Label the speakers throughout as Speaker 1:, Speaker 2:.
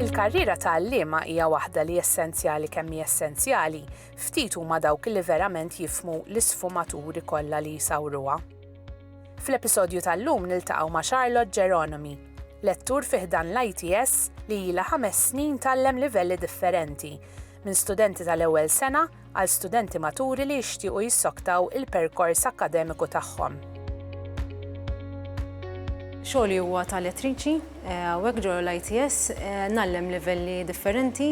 Speaker 1: Il-karriera ta' għalliema hija waħda li essenzjali kemm hi essenzjali, ftit huma dawk li verament jifmu l-isfumaturi kollha li jsawruha. Fl-episodju tal-lum niltaqgħu ma' Charlotte Geronomi, lettur fiħdan l-ITS li ilha ħames snin tallem livelli differenti, minn studenti tal-ewwel sena għal studenti maturi li jixtiequ jissoktaw il-perkors akkademiku tagħhom.
Speaker 2: Xogħli huwa ta' elettriċi, eh, u hekk ġol l-ITS eh, nallem livelli differenti.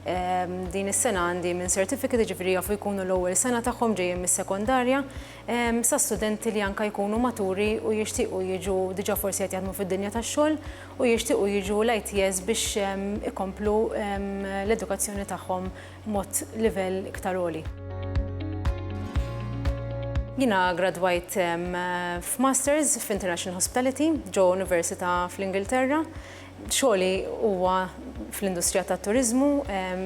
Speaker 2: Eh, din is-sena għandi minn certificate ġifri jafu jkunu l-ewwel sena tagħhom ġejjin mis-sekondarja, sa studenti li anke jkunu maturi u jixtiequ jiġu, diġà forsi qed jaħdmu fid-dinja tax-xogħol, u jixtiequ jiġu l-ITS biex ikomplu l-edukazzjoni tagħhom b'mod livell iktar għoli. Jiena gradwajt f'Masters f'International Hospitality ġewwa università fl-Ingilterra. Xogħli huwa fl-industrija tat-turiżmu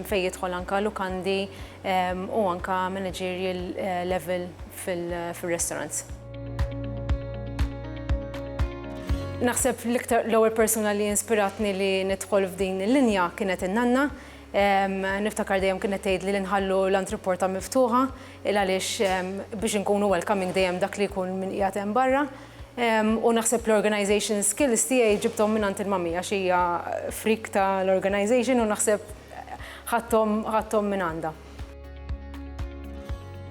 Speaker 2: fejn jidħol anke lukandi u anke managerial level fir-restaurants. Naħseb l-iktar l-ewwel persuna li inspiratni li nidħol f'din il-linja kienet in-nanna. Niftakar dejjem kienet tgħidli li nħallu l-antrepota miftuħa il għaliex biex inkunu welcoming dejjem dak li jkun min qiegħed hemm barra u naħseb l-organization skills tiegħi ġibthom mingħand il-mummy għax hija freak ta' l-organization u naħseb ħadthom ħadthom minn għandha.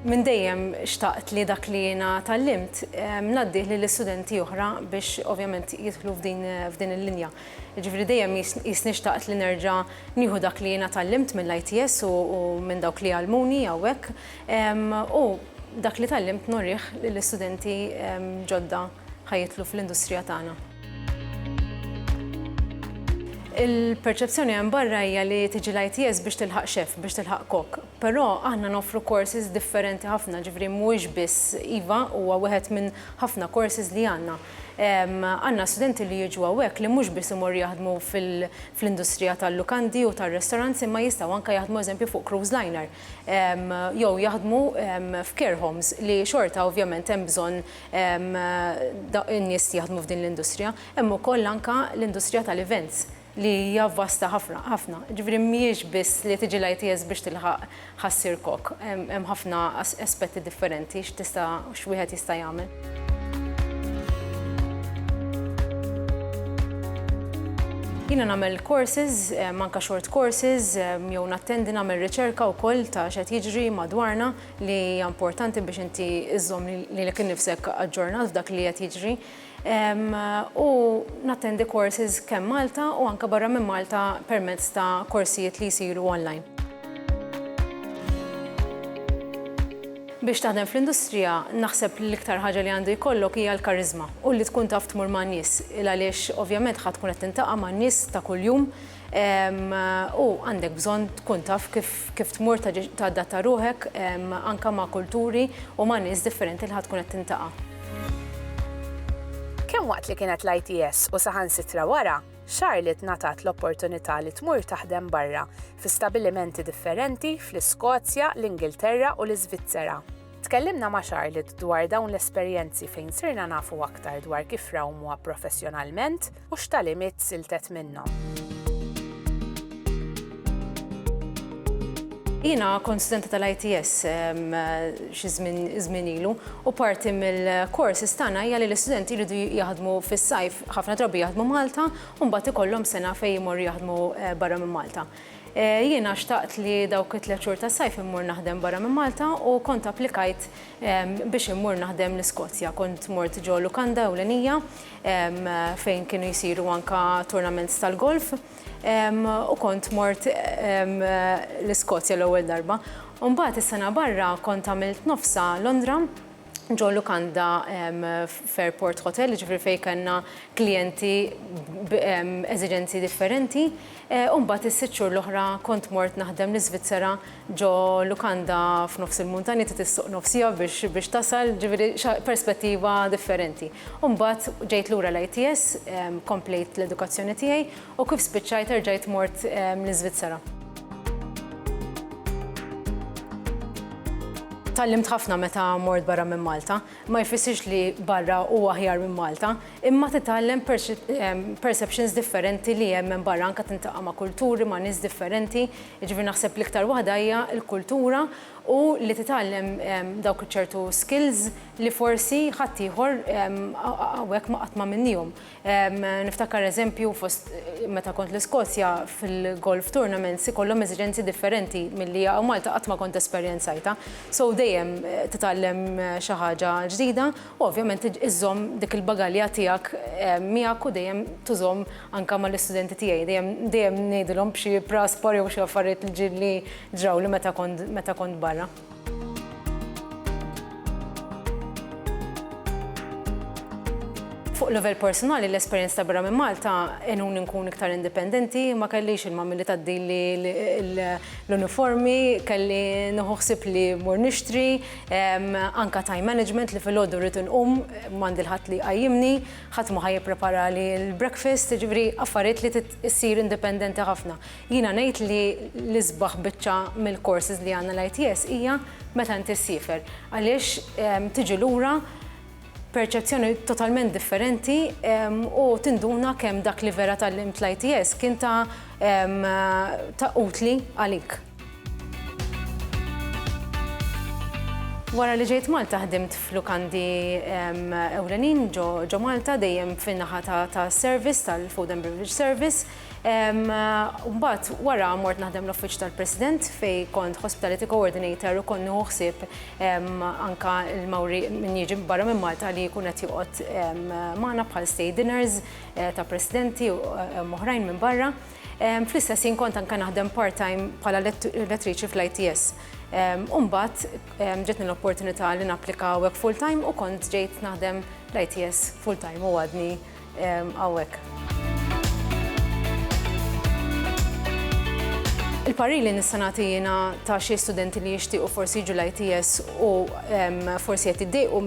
Speaker 2: Minn dejjem xtaqt li dak li jiena tgħallimt ngħaddih lil studenti oħra biex ovvjament jidħlu f'din il-linja. Jiġifieri dejjem qisni xtaqt li nerġa' nieħu dak li jiena tgħallimt mill-ITS u minn dawk li għallmuni hawnhekk u dak li tgħallimt nurih lill-istudenti ġodda ħa jidħlu fl-industrija tagħna. Il-perċezzjoni hemm barra hija li tiġi l-ITS biex tilħaq chef, biex tilħaq kok. Però aħna noffru courses differenti ħafna, jiġifieri mhuwiex biss, iva, huwa wieħed minn ħafna courses li għandna. Għandna studenti li jiġu hawnhekk li mhux biss imorru jaħdmu fl-industrija tal-lukandi u tar-restaurants imma jistgħu anke jaħdmu eżempju fuq cruise liner jew jaħdmu f'care homes li xorta ovvjament hemm bżonn in-nies li jaħdmu f'din l-industrija. Hemm ukoll anke l-industrija tal-events. li hija vasta ħafna, ħafna. Jiġifieri mhijiex biss li tiġi l-ITS biex tilħaq ħassier kok. Hemm ħafna aspetti differenti x'tista' x'wieħed jista' jagħmel. Jiena nagħmel courses, anke short courses, jew nattendi nagħmel riċerka wkoll ta' x'qed jiġri madwarna li hija importanti biex inti żżomm lilek innifsek aġġornat f'dak li qed jiġri. u nattendi courses kemm Malta u anke barra minn Malta permezz ta' korsijiet li jsiru online. Biex taħdem fl-industrija naħseb li l-iktar ħaġa li għandu jkollok hija l-kariżma u li tkun taf tmur man-nies, il għaliex ovvjament ħa tkun qed tintaqa' man-nies ta' kuljum, U għandek bżonn tkun taf kif tmur tadatta ruħek anke ma' kulturi u ma' nies differenti li ħa tkun qed tintaqa'.
Speaker 1: Kemm waqt li kienet l-ITS u saħansitra wara, Charlotte ngħatat l-opportunità li tmur taħdem barra, fi stabbilimenti differenti fl-Iskozja, l-Ingilterra u l-Iżvizzera. Tkellimna ma' Charlotte dwar dawn l-esperjenzi fejn sirna nafu aktar dwar kif rawmuha professjonalment, u x'tagħlimiet siltet minnhom.
Speaker 2: Jiena kont studenta tal-ITS xi żmien ilu u parti mill-kors istana hija li l-istudenti jridu jaħdmu fis-sajf ħafna drabi jaħdmu Malta u mbagħad ikollhom sena fejn imorru jaħdmu eh, barra minn Malta. Eh, jiena xtaqt li dawk it-tliet xhur tas-sajf immur naħdem barra minn Malta u kont applikajt biex immur naħdem l-Iskozja. Kont mort ġo Lukanda ewlenija fejn kienu jsiru anke tournaments tal-golf u kont mort l-Iskozja l-ewwel darba. U mbagħad is-sena barra kont għamilt nofsha Londra ġo lukanda f'Airport Hotel, jiġifieri fejn kellna klijenti b'eżiġenzi differenti. U mbagħad is-sitt xhur l-oħra kont mort naħdem l-Iżvizzera ġo lukanda f'nofs il-muntanja trid issuq nofs siegħa biex tasal, ġifieri perspettiva differenti. U mbagħad ġejt lura l-ITS, komplejt l-edukazzjoni tiegħi u kif spiċċajt erġajt mort l-Iżvizzera. Tgħallimt ħafna meta mort barra minn Malta. Ma jfissirx li barra hu aħjar minn Malta, imma titgħallem perceptions differenti li hemm hemm barra, anke tintaqa' ma' kulturi, ma' nies differenti Jiġifieri naħseb l-iktar waħda hija l-kultura u li titgħallem dawk iċ-ċertu skills li forsi ħaddieħor hawnhekk ma qatt m'għamilniehom. Niftakar eżempju fost meta kont l-Iskozja fil-golf tournaments ikollhom eżiġenzi differenti milli hawn Malta qatt ma kont esperjenzajtha. So dejjem titgħallem xi ħaġa ġdida. U ovvjament iżżomm dik il-bagalja tiegħek miegħek u dejjem tużhom anke mal-istudenti tiegħi. Dejjem dejjem ngħidilhom b'xi praspar jew xi affarijiet li ġi li ġrawli meta kont meta kont barra. Fuq livell persunali l-esperjenz ta' barra minn Malta għenuni nkun iktar indipendenti, ma kellix il-mami li tgħaddili l-uniformi, kelli nieħu ħsieb li mmur nixtri, Anke time management li filgħodu rrid inqum m'għandi l-ħadd li jqajjimni, ħadd ma ħa jippreparali l-breakfast, jiġifieri affarijiet li trid issir indipendenti ħafna. Jiena ngħid li l-isbaħ biċċa mill-courses li għandna l-ITS hija meta inti ssiefer għaliex tiġi lura perċezzjoni totalment differenti u tinduna kemm dak li vera tgħallimt l-ITS kien ta' utli għalik. Wara li ġejt Malta ħdimt f'lukandi ewlenin ġo Malta dejjem fin-naħa ta' service tal-Food and Beverage Service. Mbagħad wara mort naħdem l-Uffiċċju tal-President fej kont Hospitality Coordinator u konnu ħsieb anka l-mawri min jiġi barra minn Malta li jkun qed joqgħod magħna bħal stay dinners eh, ta' presidenti u eh, oħrajn minn barra. Fl-istess ħin kont anke naħdem part-time bħala elettriċi fl-ITS. U mbagħad ġetni l-opportunità li napplika hawnhekk full-time u kont ġejt naħdem l-ITS full-time u għadni hawnhekk. Il-parir li nista' nagħti jiena ta' xi studenti li jixtiequ forsi jiġu l-ITS u forsi qed jiddejqu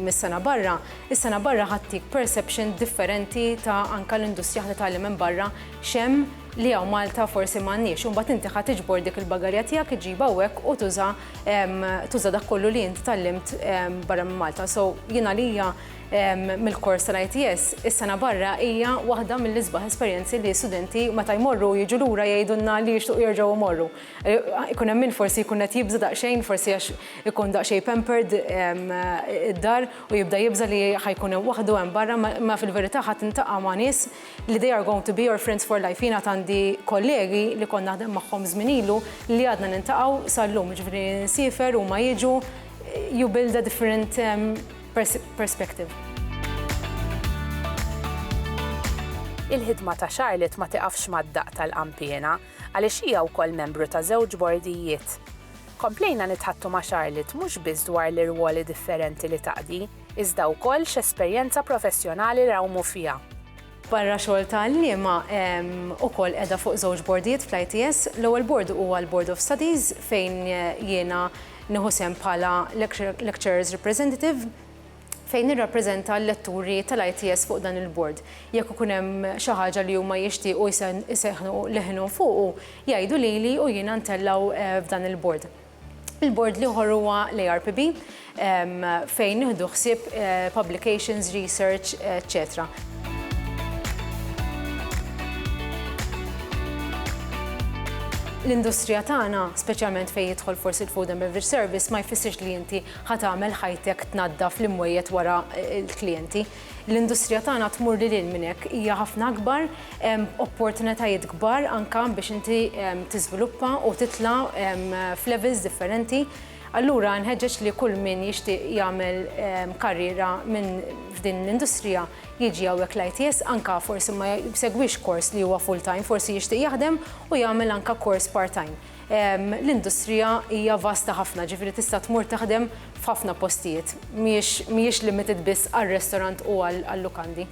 Speaker 2: mis-sena barra, Is-sena barra ħa ttik perception differenti ta' anke l-industrija ħa titgħallem minn barra x'hemm li hawn Malta forsi m'għandniex. U mbagħad inti ħa tiġbor dik il-bagarja tiegħek iġġibha hawnhekk u tuża tuża dak kollu li int tgħallimt barra minn Malta. So jien għalija mill-kors tal-ITS is-sena barra hija waħda mill-isbaħ esperjenzi li studenti meta jmorru jiġu lura jgħidulna li jixtuqu jerġgħu jmorru. Ikun hemm min forsi jkun qed jibża' daqsxejn forsi għax ikun daqsxejn pampered id-dar u jibda jibża' li ħa jkun hemm waħdu hemm barra, ma fil-verità ħa tintaqa' ma' nies li they are going to be your friends for life. Jien għad għandi kollegi li kont naħdem magħhom żmien ilu li għadna niltaqgħu sal-lum, jiġifieri nsifer huma jiġu, you build a different perspective.
Speaker 1: Il-ħidma ta' Charlotte ma tiqafx mad-daqq tal-qanpiena. għaliex hija wkoll membru ta' żewġ bordijiet. Komplejna nitħaddtu ma' Charlotte mhux biss dwar l-irwoli differenti li taqdi, iżda wkoll x'esperjenza professjonali nrawmu fiha. Barra xogħol
Speaker 2: ta' għalliema, ukoll qiegħda fuq żewġ bordijiet fl-ITS. L-ewwel bord huwa l-Board of Studies fejn jiena nieħu sehem bħala Lecturers Representative. fejn nirrappreżenta l-letturi tal-ITS fuq dan il-bord. Jekk ikun hemm xi ħaġa li huma jixtiequ jsejħnu leħinhom fuqu, jgħidu lili u jiena ntellgħu f'dan il-bord. Il-bord l-ieħor huwa l-ARPB fejn nieħdu ħsieb publications, research, eċċetera. L-industrija tagħna, speċjalment fejn jidħol forsi l-Food and Beverage Service, ma jfissirx li inti Ħa tagħmel ħajtek tnaddaf l-imwejjed wara l-klijenti. L-industrija tagħna tmur lil hinn minn hekk, hija ħafna akbar, hemm opportunitajiet kbar anke biex inti tiżviluppa u titla' f'levels differenti. Allura nħeġġeġ li kull min jixtieq jagħmel karriera minn f'din l-industrija jiġi hawnhekk l-ITS anke forsi ma jsegwix kors li huwa full-time, forsi jixtieq jaħdem u jagħmel anke kors part-time. L-industrija hija vasta ħafna, ġifieri tista' tmur taħdem f'ħafna postijiet. Mhijiex limited biss għar-restaurant u għal-lukandi.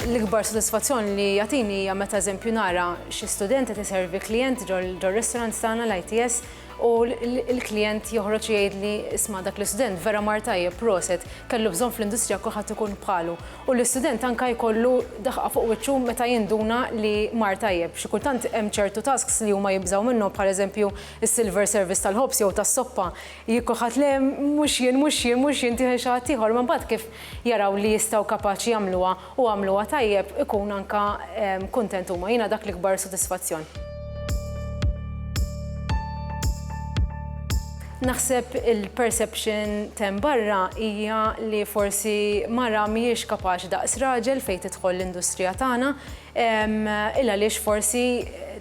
Speaker 2: L-ikbar sodisfazzjon li jagħtini hija meta eżempju nara xi student qed iservi klijent ġor-restaurant tagħna l-ITS u l-klijent joħroġ jgħidli, 'Isma' dak l-istudent vera mar tajjeb, proset, kellu bżonn fl-industrija kulħadd ikun bħalu. u l-istudent anke jkollu daħqa fuq wiċċu meta jinduna li mar tajjeb. Xi kultant hemm ċertu tasks li huma jibżgħu minnhom bħal eżempju s-silver service tal-ħobż jew tas-soppa. Jekk kulħadd le, mhux jien, mhux jien, mhux jien, tieħel xi ħadd ieħor, imma mbagħad kif jaraw li jistgħu kapaċi jagħmluha u għamluha tajjeb ikun anke kuntent huma. Jiena dak l-ikbar sodisfazzjon. Naħseb il-perception t'hemm barra hija li forsi mara mhijiex kapaċi daqs raġel fejn tidħol l-industrija tagħna, il-għaliex forsi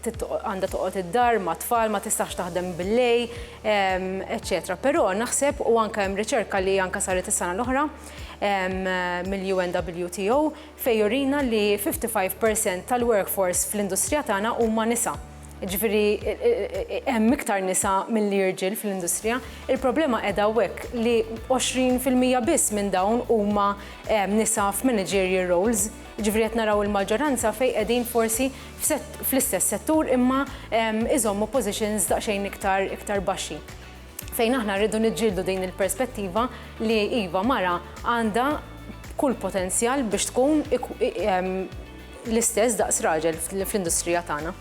Speaker 2: għandha toqgħod id-dar mat-tfal, ma tistax taħdem bil-lejl, eċċetera. Però naħseb u anke hemm riċerka li anke saret is-sena l-oħra mill-UNWTO fejn jurina li 55% tal-workforce fl-industrija tagħna huma nisa. Jiġifieri hemm iktar nisa milli irġiel fl-industrija. Il-problema qiegħda hawnhekk li 20 fil-mija biss minn dawn huma nisa f'managerial roles. Jiġifieri qed naraw il-maġġoranza fejn qegħdin forsi fl-istess settur imma iżommu positions daqsxejn iktar iktar baxxi. Fejn aħna rridu niġġieldu din il-perspettiva li iva mara għandha kull potenzjal biex tkun L-istess daqs raġel fl-industrija tagħna.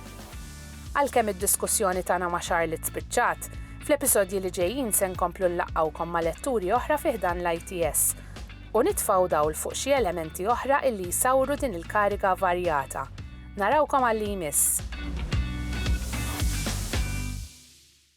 Speaker 2: Għalkemm
Speaker 1: id-diskussjoni tagħna ma' Charlotte spiċċat, fl-episodji li ġejjin se nkomplu nlaqqgħukom ma' letturi oħra fi ħdan l-ITS u nitfgħu dawl fuq xi elementi oħra illi jsawru din il-kariga varjata. Narawkom għal-li jmiss!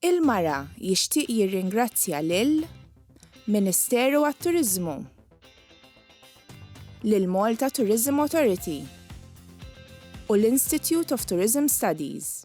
Speaker 3: Il-Mara jixtieq jirringrazzja lil Ministeru għat-Turiżmu, lill-Malta Tourism Authority u l-Institute of Tourism Studies.